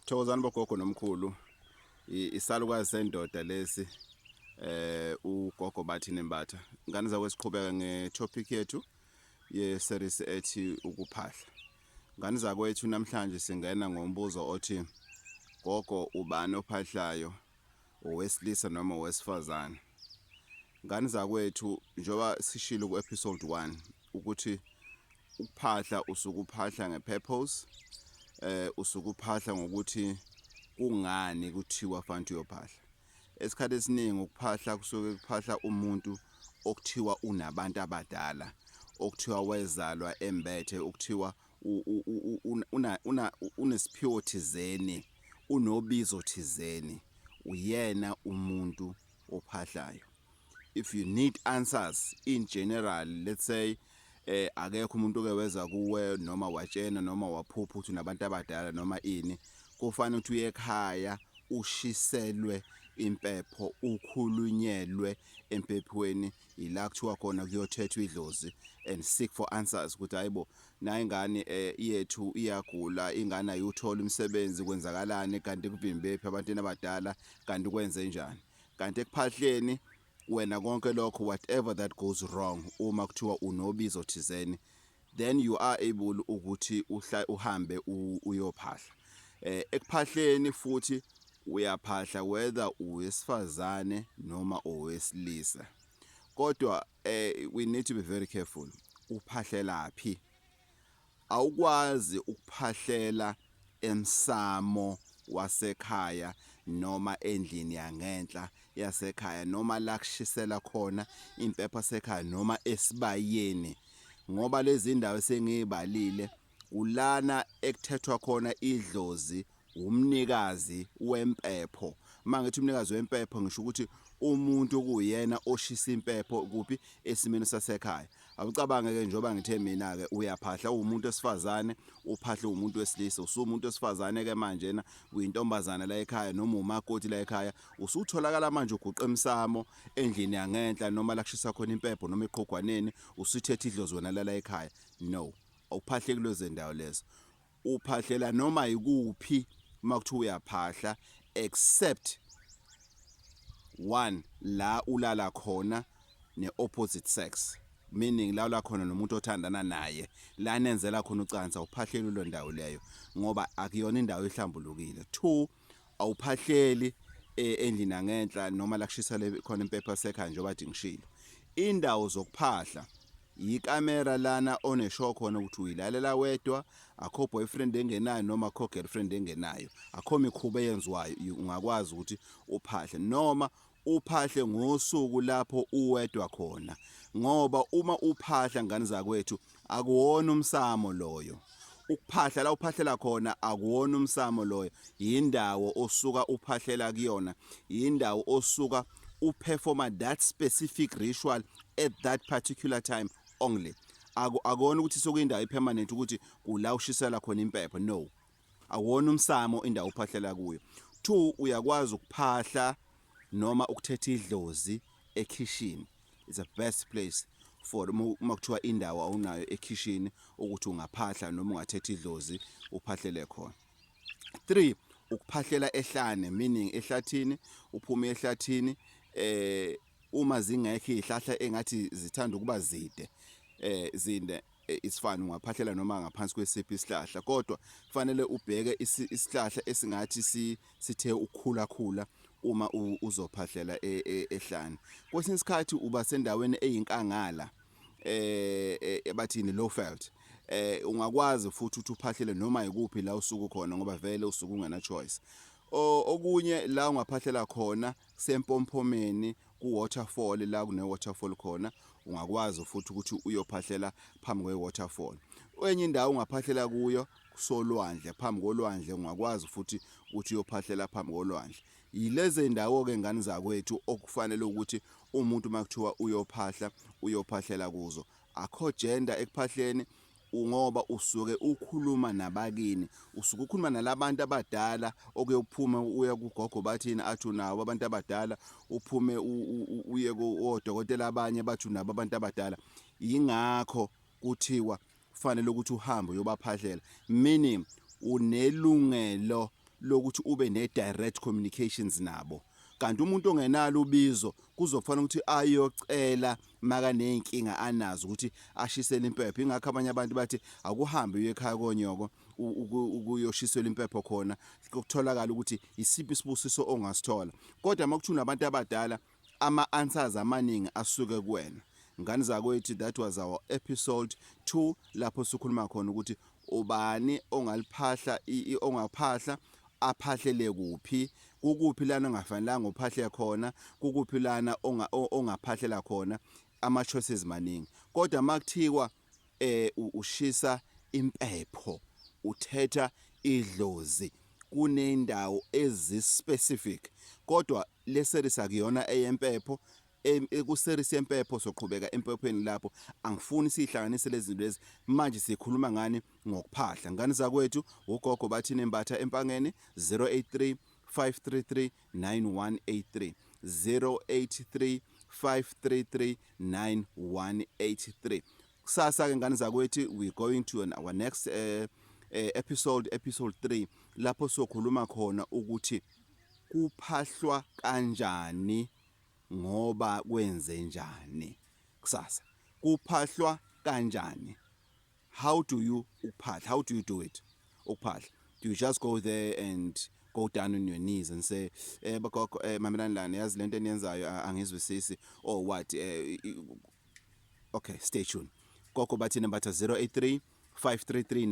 Thokozani bogogo nomkhulu isalukazi sendoda lesi eh ugogo bathi nembatha ngane zakwe siqhubeka ngetopic yethu yeseries ethi ukuphahla ngane zakwethu namhlanje singena ngombuzo othi gogo ubani ophahlayo owesilisa noma owesifazane ngane zakwethu njengoba sishilo ku-episode 1 ukuthi ukuphahla usuke uphahla nge-purpose eh usuke uphahla ngokuthi kungani kuthiwa fanti uyophahla esikhathi esiningi ukuphahla kusuke kuphahla umuntu okuthiwa unabantu abadala okuthiwa wezalwa embethe okuthiwa unesiphiwo thizeni unobizo thizeni uyena umuntu ophahlayo if you need answers in general let's say eh akekho umuntu oke weza kuwe noma watshena noma waphupha ukuthi unabantu abadala noma ini kufanele ukuthi uye ekhaya ushiselwe impepho ukhulunyelwe empephweni yila kuthiwa khona kuyothethwa idlozi and seek for answers ukuthi hayibo Nayi ingane yethu iyagula, ingane ayiwutholi umsebenzi, kwenzakalani kanti kuvimbephi abantwini abadala kanti kwenze njani? Kanti ekuphahleni wena konke lokho whatever that goes wrong uma kuthiwa unobizo thizeni then you are able ukuthi uhla uhambe uyophahla eh ekuphahleni futhi uyaphahla whether uwesifazane noma owesilisa kodwa eh we need to be very careful uphahlela phi awukwazi ukuphahlela emsamo wasekhaya noma endlini yangenhla yasekhaya noma la kushisela khona impepha sekhaya noma esibayeni ngoba lezi ndawo sengiyibalile Kulana ekuthethwa khona idlozi wumnikazi wempepho. Uma ngithi umnikazi wempepho ngisho ukuthi umuntu okuyena oshisa impepho kuphi esimeni sasekhaya. Awucabange-ke njengoba ngithe mina-ke uyaphahla uwumuntu wesifazane, uphahle uwumuntu wesilisa. Usuwumuntu wesifazane-ke manjena uyintombazana la ekhaya noma umakoti la ekhaya. Usutholakala manje uguqa emsamo endlini yangenhla noma la kushisa khona impepho noma eqhogwaneni usuthethe idlozi wena lala ekhaya. No. Ukuphahle kulezo ndawo lezo. Uphahlela noma yikuphi uma kuthiwa uyaphahla except one la ulala khona ne-opposite sex meaning la ula khona nomuntu othandana naye la nenzela khona ucansa uphahlele kulo ndawo leyo ngoba akuyona indawo ehlambulukile two awuphahleli e, endlini angenhla noma la kushisa le khona impepha sekhaya njengoba kade ngishilo indawo zokuphahla yikamera lana oneshow khona ukuthi uyilalela wedwa akho boyfriend engenayo noma akho girlfriend engenayo akho mikhuba eyenziwayo ungakwazi ukuthi uphahle noma uphahle ngosuku lapho uwedwa khona ngoba uma uphahla ngane zakwethu akuwona umsamo loyo ukuphahla la uphahlela khona akuwona umsamo loyo yindawo osuka uphahlela kuyona yindawo osuka uperforma that specific ritual at that particular time only akona ukuthi sokuyindawo epermanent ukuthi kula ushisela khona impepho no awona umsamo indawo uphahlela kuyo two uyakwazi ukuphahla noma ukuthetha idlozi ekhishini it's the best place for uma uma kuthiwa indawo awunayo ekhishini ukuthi ungaphahla noma ungathetha idlozi uphahlele khona three ukuphahlela ehlane meaning ehlathini uphume ehlathini eh uma zingekho izihlahla engathi zithanda ukuba zide eh zinde eh, isifani ungaphahlela noma ngaphansi kwesiphi isihlahla kodwa kufanele ubheke isihlahla esingathi sithe ukukhula khula uma uzophahlela e, e, ehlane kwesinye isikhathi uba sendaweni eyinkangala eh, eh ebathini low felt eh ungakwazi futhi ukuthi uphahlele noma ikuphi la usuku khona ngoba vele usuku ungena choice okunye la ungaphahlela khona kusempompomeni ku-waterfall la kune-waterfall khona ungakwazi futhi ukuthi uyophahlela phambi kwe-waterfall enye indawo ungaphahlela kuyo kusolwandle phambi kolwandle ungakwazi futhi ukuthi uyophahlela phambi kolwandle yilezi ndawo-ke ngane zakwethu okufanele ukuthi umuntu uma kuthiwa uyophahla uyophahlela kuzo akho gender ekuphahleni ngoba usuke ukhuluma nabakini usuke ukhuluma nalabantu abadala okuyophuma uya kugogo bathini athu nawo abantu abadala uphume uye kodokotela abanye bathu nabo abantu abadala yingakho kuthiwa kufanele ukuthi uhambe uyobaphahlela meaning unelungelo lokuthi ube ne direct communications nabo kanti umuntu ongenalo ubizo kuzofanele ukuthi ayocela makaney'nkinga anazo ukuthi ashisele impepho ingakho abanye abantu bathi akuhambe uye ekhaya konyoko ukuyoshiselwa impepho khona kutholakala ukuthi isiphi isibusiso ongasithola kodwa uma kuthuna abantu abadala ama-answers amaningi asuke kuwena ngane zakwethu that was our episode 2 lapho sikhuluma khona ukuthi Ubani ongaliphahla ongaphahla aphahlele kuphi kukuphi lana ongafanelanga uphahle khona kukuphi lana ongaphahlela khona ama choices maningi kodwa makuthiwa eh ushisa impepho uthetha idlozi kunendawo ezi specific kodwa le series akuyona eyempepho kuserisi yempepho soqhubeka empephweni lapho angifuni sihlanganise lezi zinto lezi manje sikhuluma ngani ngokuphahla ngani zakwethu ugogo bathini embatha empangeni 083 533 9183 083 533 9183 kusasa ke ngani zakwethu we going to an, our next uh, uh, episode episode 3 lapho sokhuluma khona ukuthi kuphahlwa kanjani ngoba kwenzenjani kusasa kuphahlwa kanjani how do you ukuphahla how do you do it ukuphahla do you just go there and go down on your knees and say eh bagogo eh mamelani lana yazi lento eniyenzayo angizwisisi or what eh okay stay tuned gogo bathina batha 083 533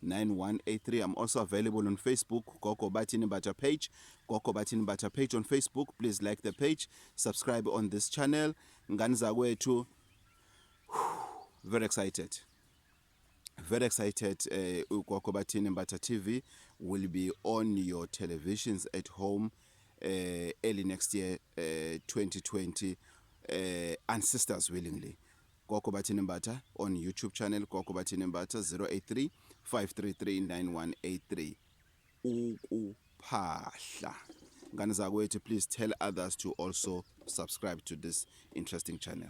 9183 i'm also available on facebook gogo bathini mbatha page gogo bathini mbatha page on facebook please like the page subscribe on this channel ngani zakwethu very excited Very excited uh, ugogo bathini Mbatha TV will be on your televisions at home uh, early next year uh, 2020 uh, and sisters willingly gogo bathini Mbatha on YouTube channel gogo bathini Mbatha 083 5339183 ukuphahla ngane zakwethu please tell others to also subscribe to this interesting channel